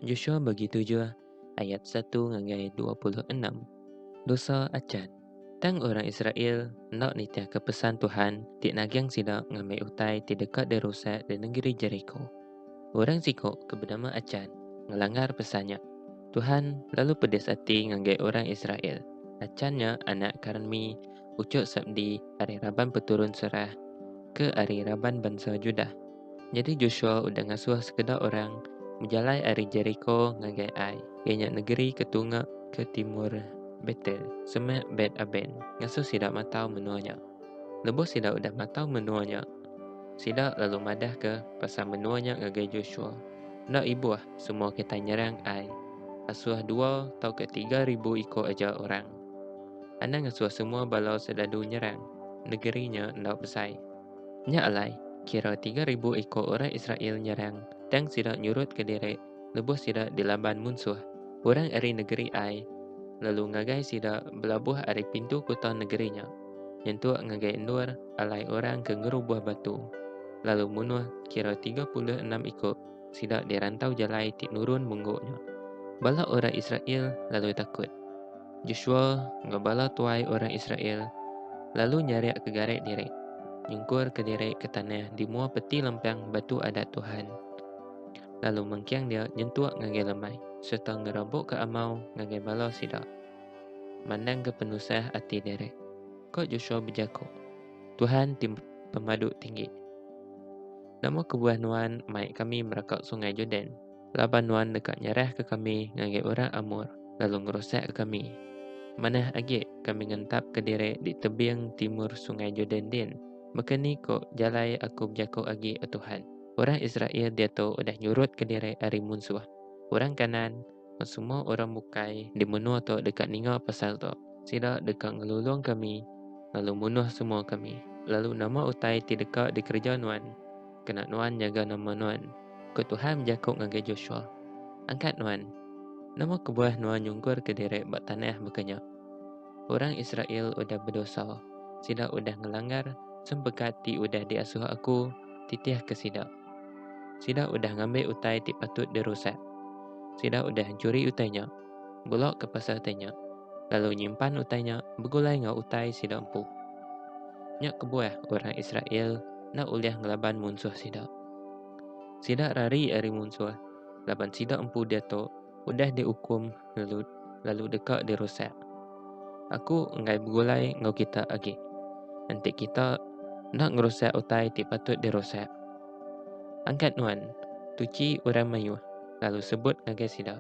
Joshua bagi tujuh ayat satu ngagai dua puluh enam. Dosa acan. Tang orang Israel enda nitihka pesan Tuhan ti nagang sida ngambi utai ti deka dirusak di nengeri Jeriko. Orang siku ke benama Acan ngelanggar pesan nya. Tuhan lalu pedis ati ngagai orang Israel. Acan nya anak Karmi, uchuk Sabdi ari raban peturun Serah ke ari raban bansa Judah. Nyadi Joshua udah ngasuh sekeda orang bejalai ari Jeriko ngagai Ai, iya nya negeri ke tunga ke timur Betel, semak Bet-Aben, ngasuh sida matau menua nya. Lebuh sida udah matau menua nya, sida lalu madahka pasal menua nya ngagai Joshua. Enda ibuh semua kitai nyerang Ai, asuh dua tauka tiga ribu iku aja orang. Anang ngasuh semua bala serdadu nyerang, negeri nya enda besai. Nya alai, kira tiga ribu iku orang Israel nyerang tang sida nyurut ke diri lebuh sida dilaban munsuh. Orang ari negeri Ai lalu ngagai sida belabuh ari pintu kuta negeri nya, nyentuk ngagai endur alai orang ke ngerubuh batu, lalu munuh kira tiga puluh enam iku sida di rantau jalai ti nurun munggu nya. Bala orang Israel lalu takut. Joshua enggau bala tuai orang Israel lalu nyarik ke garet diri, nyungkur ke diri ke tanah di mua peti lempang Batu Adat Tuhan, lalu mengking dia nyentuk ngagai lemai sereta ngerabukka amau ngagai bala sida, mandangka penusah ati diri. Ko Joshua bejaku, Tuhan ti Pemadu Tinggi, nama kebuah nuan mai kami meraka Sungai Jordan? laban nuan deka nyerahka kami ngagai orang Amor lalu ngerusak kami. Manah agi kami ngentapka diri di tebing timur Sungai Jordan din. Baka ni ko jalai aku bejako agi, O Tuhan, orang Israel diatu udah nyurutka diri ari munsuh. Orang Kanaan enggau semua orang bukai di menua tu deka ninga pasal tu. Sida deka ngelulung kami lalu munuh semua kami. Lalu nama utai ti deka dikereja nuan? Kena nuan nyaga nama nuan, ku Tuhan bejaku ngagai Joshua. Angkat nuan. Nama kebuah nuan nyungkurka diri ba tanah baka nya? Orang Israel udah bedosa. Sida udah ngelanggar sempekat ti udah diasuh Aku titihka sida. Sida udah ngambi utai ti patut dirusak. Sida udah nchuri utai nya. Bula ke pasal utai nya, lalu nyimpan utai nya begulai enggau utai sida empu. Nya kebuah orang Israel enda ulih ngelaban munsuh sida. Sida rari ari munsuh laban sida empu diatu udah diukum lalu lalu deka dirusak. Aku enggai begulai enggau kita agi. Enti kita enda ngerusak utai ti patut dirusak. Angkat nuan, tuchi orang mayuh, lalu sebut ngagai sida.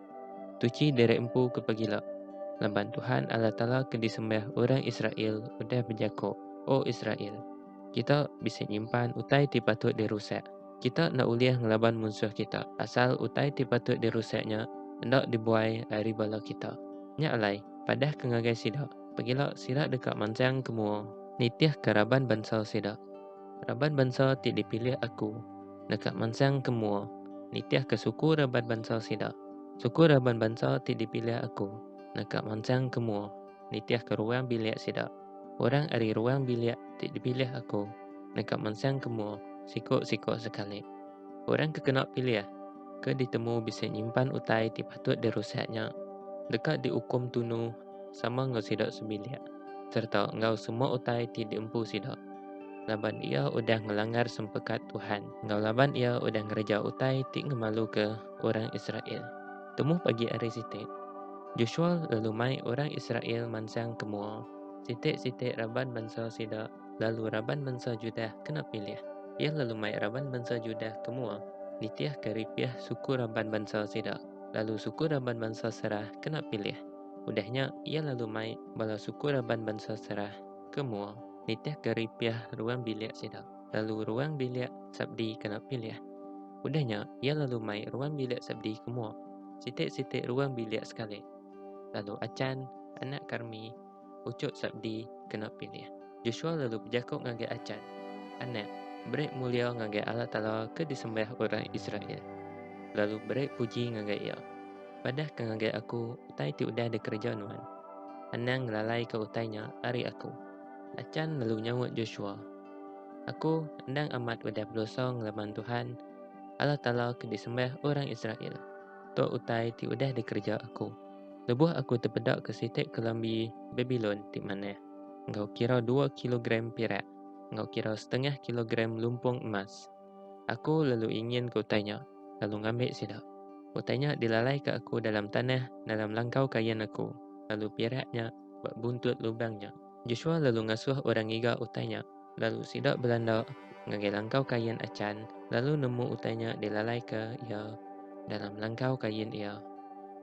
Tuchi diri empu ke pegila, laban Tuhan Allah Taala ke disembah orang Israel udah bejako, O Israel, kita bisi nyimpan utai ti patut dirusak. Kita enda ulih ngelaban munsuh kita, asal utai ti patut dirusak nya enda dibuai ari bala kita. Nya alai, padah ke ngagai sida, pegila sida deka mansang ke mua, nitihka raban bansa sida. Raban bansa ti dipilih Aku deka mansang ke mua nitihka suku raban bansa sida. Suku raban bansa ti dipilih Aku deka mansang ke mua nitihka ruang bilik sida. Orang ari ruang bilik ti dipilih Aku deka mansang ke mua siku-siku sekali. Orang ke kena pilih, ke ditemu bisi nyimpan utai ti patut dirusak nya, deka diukum tunu. sama enggau sida sebilik sereta enggau semua utai ti diempu sida, laban iya udah ngelanggar sempekat Tuhan enggau laban iya udah ngereja utai ti ngemaluka orang Israel. Temuh pagi ari siti, Joshua lalu mai orang Israel mansang ke mua, siti-siti raban bansa sida, lalu raban mensa Judah kena pilih. Iya lalu mai raban mensa Judah ke mua, nitihka ripih suku raban bansa sida, lalu suku raban bansa Serah kena pilih. Udah nya, iya lalu mai bala suku raban bansa Serah ke mua, nitihka ripih ruang bilik sida, lalu ruang bilik Sabdi kena pilih. Udah nya, iya lalu mai ruang bilik Sabdi ke mua, siti-siti ruang bilik sekali. Lalu Achan, anak Karmi, Uchup Sabdi kena pilih. Joshua lalu bejaku ngagai Achan, Anak, beri mulia ngagai Allah Taala ke disembiah orang Israel, lalu beri puji ngagai Iya. Padahka ngagai aku utai ti udah dikereja nuan. Anang ngelalaika utai nya ari aku. Achan lalu nyaut Joshua, Aku endang amat udah bedosa ngelaban Tuhan, Allah Taala ke disembiah orang Israel. Tu utai ti udah dikereja aku. Lebuh aku tepedaka sitik kelambi Babilon ti manah, enggau kira dua kilogram pirak, enggau kira setengah kilogram lumpung emas, aku lalu inginka utai nya, lalu ngambi sida. Utai nya dilalaika aku dalam tanah dalam langkau kain aku, lalu pirak nya ba buntut lubang nya. Joshua lalu ngasuh orang ngiga utai nya. Lalu sida belanda ngagai langkau kain Achan lalu nemu utai nya dilalaika iya dalam langkau kain iya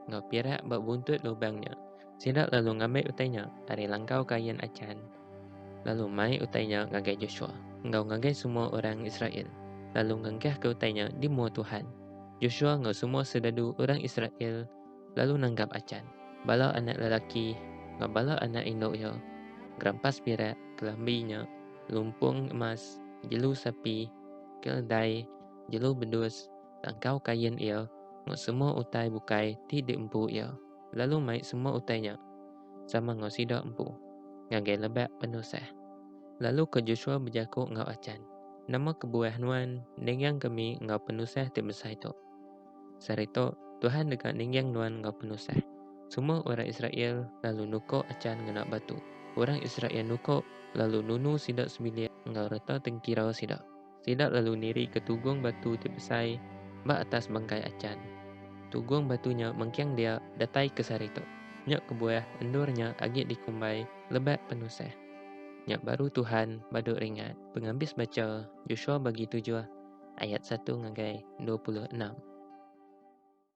enggau pirak ba buntut lubang nya. Sida lalu ngambi utai nya ari langkau kain Achan lalu mai utai nya ngagai Joshua enggau ngagai semua orang Israel, lalu ngengkahka utai nya di mua Tuhan. Joshua enggau semua sedadu orang Israel lalu nanggap Achan, bala anak lelaki enggau bala anak indu iya, gerampas pirak, kelambi nya, lumpung emas, jelu sapi, keledai, jelu bedus, tangkau kain iya enggau semua utai bukai ti diempu iya, lalu mai semua utai nya sama enggau sida empu ngagai lebak penusah. Lalu ke Joshua bejaku enggau Achan, Nama kebuah nuan ninggangka kami enggau penusah ti besai tu? Sarito, Tuhan deka ningging nuan enggau penusah. Semua orang Israel lalu nuko acan ngena batu. Orang Israel nuko lalu nunu sida sebilik enggau reta tengkira sida. Sida lalu niri ke tugung batu ti besai ba atas bangkai acan. Tugung batu nya mengking dia datai ke Sarito. Nya kebuah endur nya agi dikumbai Lebak Penusah. Nya baru Tuhan baduk ringat. Pengabis bacha Joshua bagi tujuh ayat satu ngagai dua puluh enam.